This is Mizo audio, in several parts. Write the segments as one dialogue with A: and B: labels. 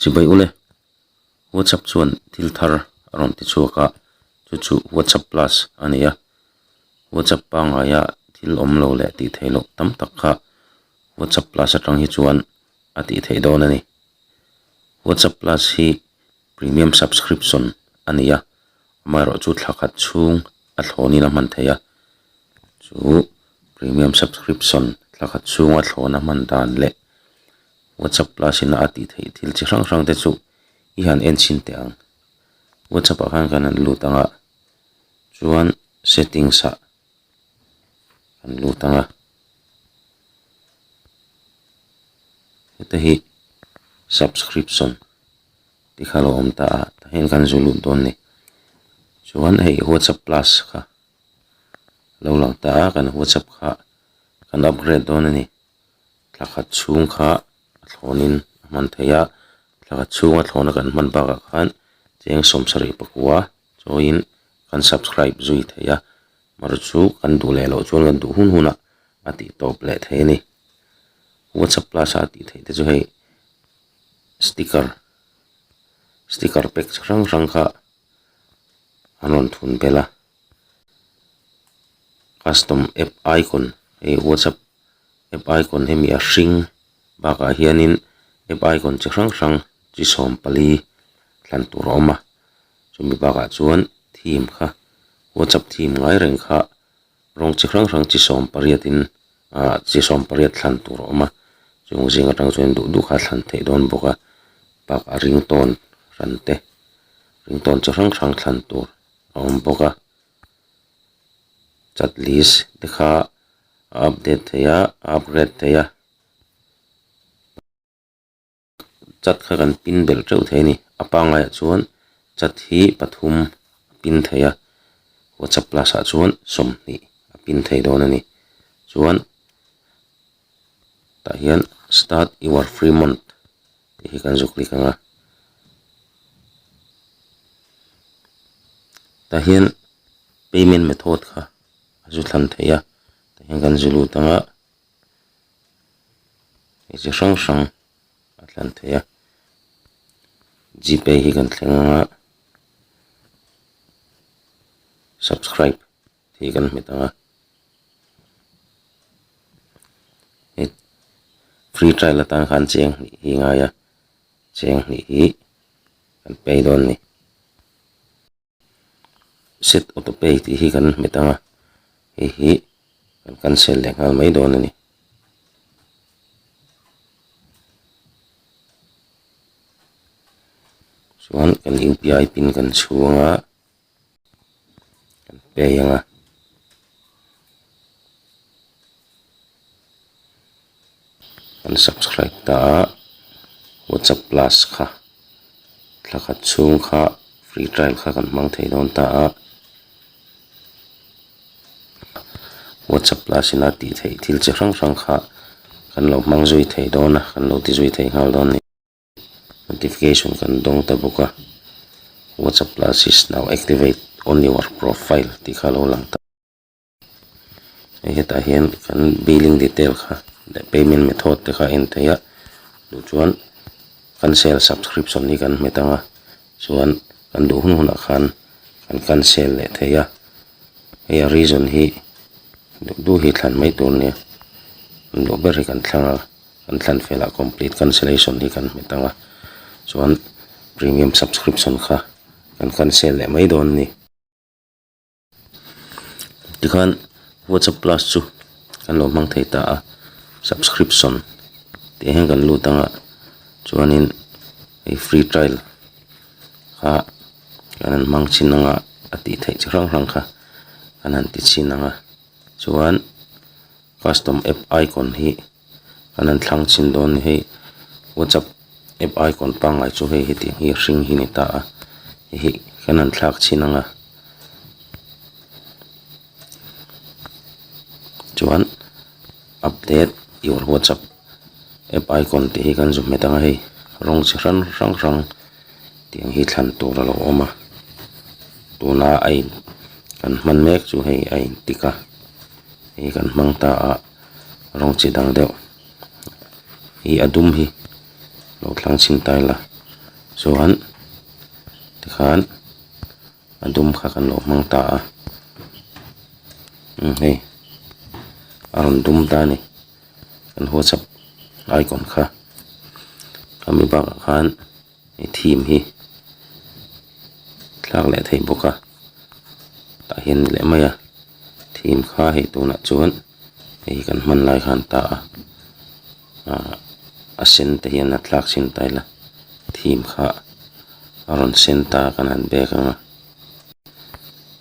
A: Chibei ule. WhatsApp chuan thil thar a rawn ti chhuak a, chu chu WhatsApp Plus a ni a. WhatsApp pangaia thil awm lo leh tih theih loh tam tak kha WhatsApp Plus atang hi chuan a tih theih dawn a ni. WhatsApp Plus hi Premium Subscription a ni a, amaherawh chu thla khat chhung a thlawnin a hman thei a. Chu Premium Subscription thla khat chhunga thlawna hman dan leh WhatsApp class ina a tih theih thil chi hrang hrang te chu i han en chhin teh ang. WhatsApp ah khan kan han lut ang a, chuan settings ah kan lut ang a. Heta hi subscription tih kha lo awm ta a, tah hian kan zu lut dawn a ni. Chuan hei WhatsApp class kha lo lang ta a, kan WhatsApp kha kan upgrade dawn a ni. Thla khat chhung kha a thlawnin a hman thei a, thla khat chhunga thlawna kan hman bakah khan cheng sawm sarih pakua chawiin kan subscribe zui thei a, maru chu kan duh leh loh chuan kan duh hun hun a, a tih tawp leh thei a ni. Whatsapp Plus a a tih theih te chu hei sticker, sticker pack chi hrang hrang kha an rawn thun belh a, custom app icon hei Whatsapp. app icon hi mi a hring bakah hianin app icon chi hrang hrang chi sawm pali thlan tur a awm a chumi bakah chuan theme kha whatsapp theme ngai reng kha rawng chi hrang hrang chi sawm pariatin ah chi sawm pariat thlan tur a awm a chung zing atang chuan duh duh kha thlan theih dawn bawk a bakah ringtone ran te ringtone chi hrang hrang thlan tur a awm bawk a. chat list te kha a update theih a a upgrade theih a chat kha kan pin belh teuh thei a ni a pangngai ah chuan chat hi pathum a pin theih a whatsapp plus ah chuan sawmhnih a pin theih dawn a ni chuan-- tah hian start your free month tih hi kan zâwk lêk ang a tah hian payment method kha a zu thlan theih a tah hian kan zû lût ang a hei chi hrang hrang a thlan theih a g pay hi kan thleng ang a subscribe . thei kan hmu thung a hei free trial atang khan cheng hnih hi ngai a cheng hnih hi kan pay dawn a ni set auto pay tih hi kan hmu thung a hei hi kan cancel leh nghal mai dawn a ni. chuan kan inpi ai pin kan chhung a. kan pei ang a kan subscribe ta a whatsapp plus kha thla khat chhung kha free trial kha kan hmang thei dawn ta a whatsapp plus ina tih theih thil chi hrang hrang kha kan lo hmang zui thei dawn a kan lo ti zui thei nghal dawn a ni. notification kan dawng ta bawk a whatsapp class is now activate on your profile tih kha a lo lang ta a hetah hian kan billing detail kha leh payment method te kha a en theih a tih chuan cancel subscription hi kan hmet ang a chuan kan duh hun hunah khan kan cancel leh thei a hei a reason hi duh duh hi thlan mai tur nia kan duh ber hi kan thlanga. kan thlan fel ah complete cancellation hi kan hmet ang a chuan premium subscription kha kan cancel leh mai dawn a ni tikhan whatsapp plus chu kan lo hmang thei ta a subscription tih hian kan lut ang a chuanin hei free trial kha kan han hmang chin ang a a tih theih chi hrang hrang kha kan han ti chin ang a chuan. Custom app icon hi kan han thlang chhin dawn ni hei whatsapp app icon pangngai chu hei hetiang hi hring hi ni ta a hei hi kan han thlak chhin anga chuan update your whatsapp app icon tih hi kan zun hmet anga hei rawng chi hrang hrang hrang tiang hi thlan tur a lo awm a tuna a in kan hman mek chu hei a in tik a. hei kan hmang ta a rawng chi dang deuh ih a dum hi lo thlang chhin ta ila chuan tikhan a dum kha kan lo hmang ta a umm hei a rawn dum ta a ni kan huachhak icon kha a mi bakah khan-- he theme hi thlak leh thei bawk a tah hian ni leh mai a theme kha hei tunah chuan hei kan hman lai kha an ta a ah a sen te hian a thlak chhin ta ila theme kha a rawn sen ta ka han biak ang a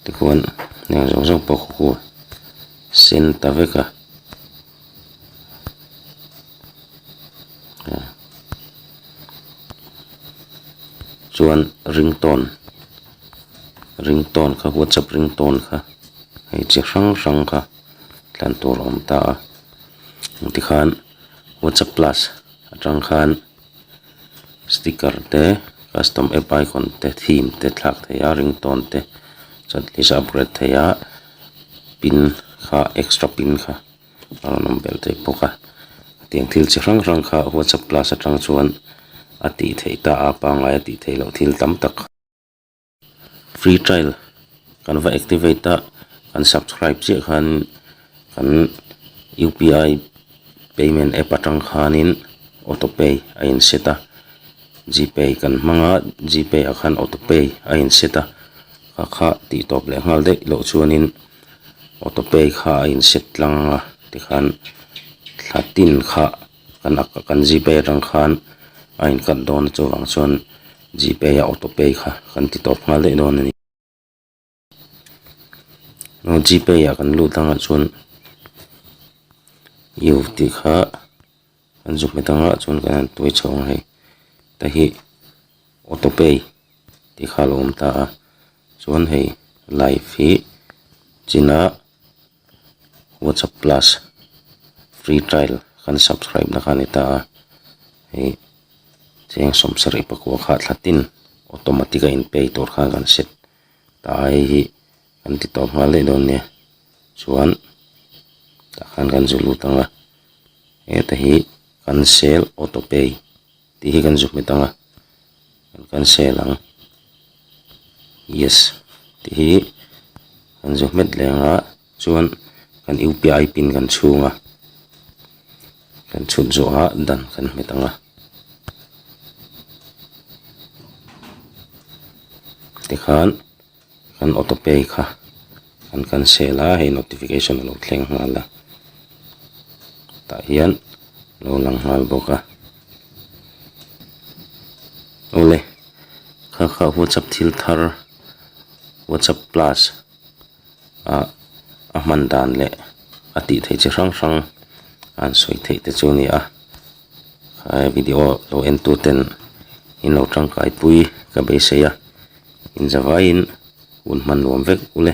A: tichuan heng zawk zawk pawh ka hua sen ta vek a. chuan ringtone ringtone kha whatsapp ringtone kha hei chi hrang hrang kha tlan tur a awm ta a engtikhan whatsapp plus atang khan-- Sticker te custom app icon te theme te thlak thei a ringtone te chuan tih hi sawn a upgrade thei a pin kha extra pin kha a rawn awm belh thei bawk a tiang thil chi hrang hrang kha whatsapp class atang chuan a tih theih ta a pangai a tih theih loh thil tam tak kha-- Free trial kan va activate a, kan subscribe chiah khanin kan UPI payment app atang khanin auto pay a in set a, GPay kan hmang a, GPay ah khan auto pay a in set a, kha kha tih tawp leh nghal daih loh chuanin auto pay kha a in set tlang a tikhan thla tin kha. kan ak kan g pay atang khan a in cut dawna chuvang chuan g pay a auto pay kha kan ti tawp nghal daih dawn a ni aw g pay ah kan lut ang ah chuan io tih kha kan zuk hmet ang ah chuan kan han tuai chho ang hei ta hi auto pay tih kha a lo awm ta a chuan hei life hi chin a-- whatsapp plus free trial kan subscribe na kha ani ta a hei cheng sawm serei pakua kha thla tin automatic a in pay tur khan kan set ta a hei hi kan ti tawp nghal daih dawn nia chuan tah khan kan zui lut ang a heta hi cancel auto pay . Tih hi kan zuk hmet ang a, kan cancel ang, yes tih hi kan zuk hmet leh ang a, chuan kan UPI pin kan chhung a, kan chhut zawh a dan kan hmet ang a, tikhan. kan autopay kha an cancel a hei notification a lo thleng nghal a tah hian a lo lang nghal bawk a awle kha kha whatsapp thil thar whatsapp plus ah a hman dan leh a tih theih chi hrang hrang an sawi theih te chu a ni a. Khaia video lo en tu ten in lo tangkai pui ka beisei a, inzavaiin hun hman nuam vek u le.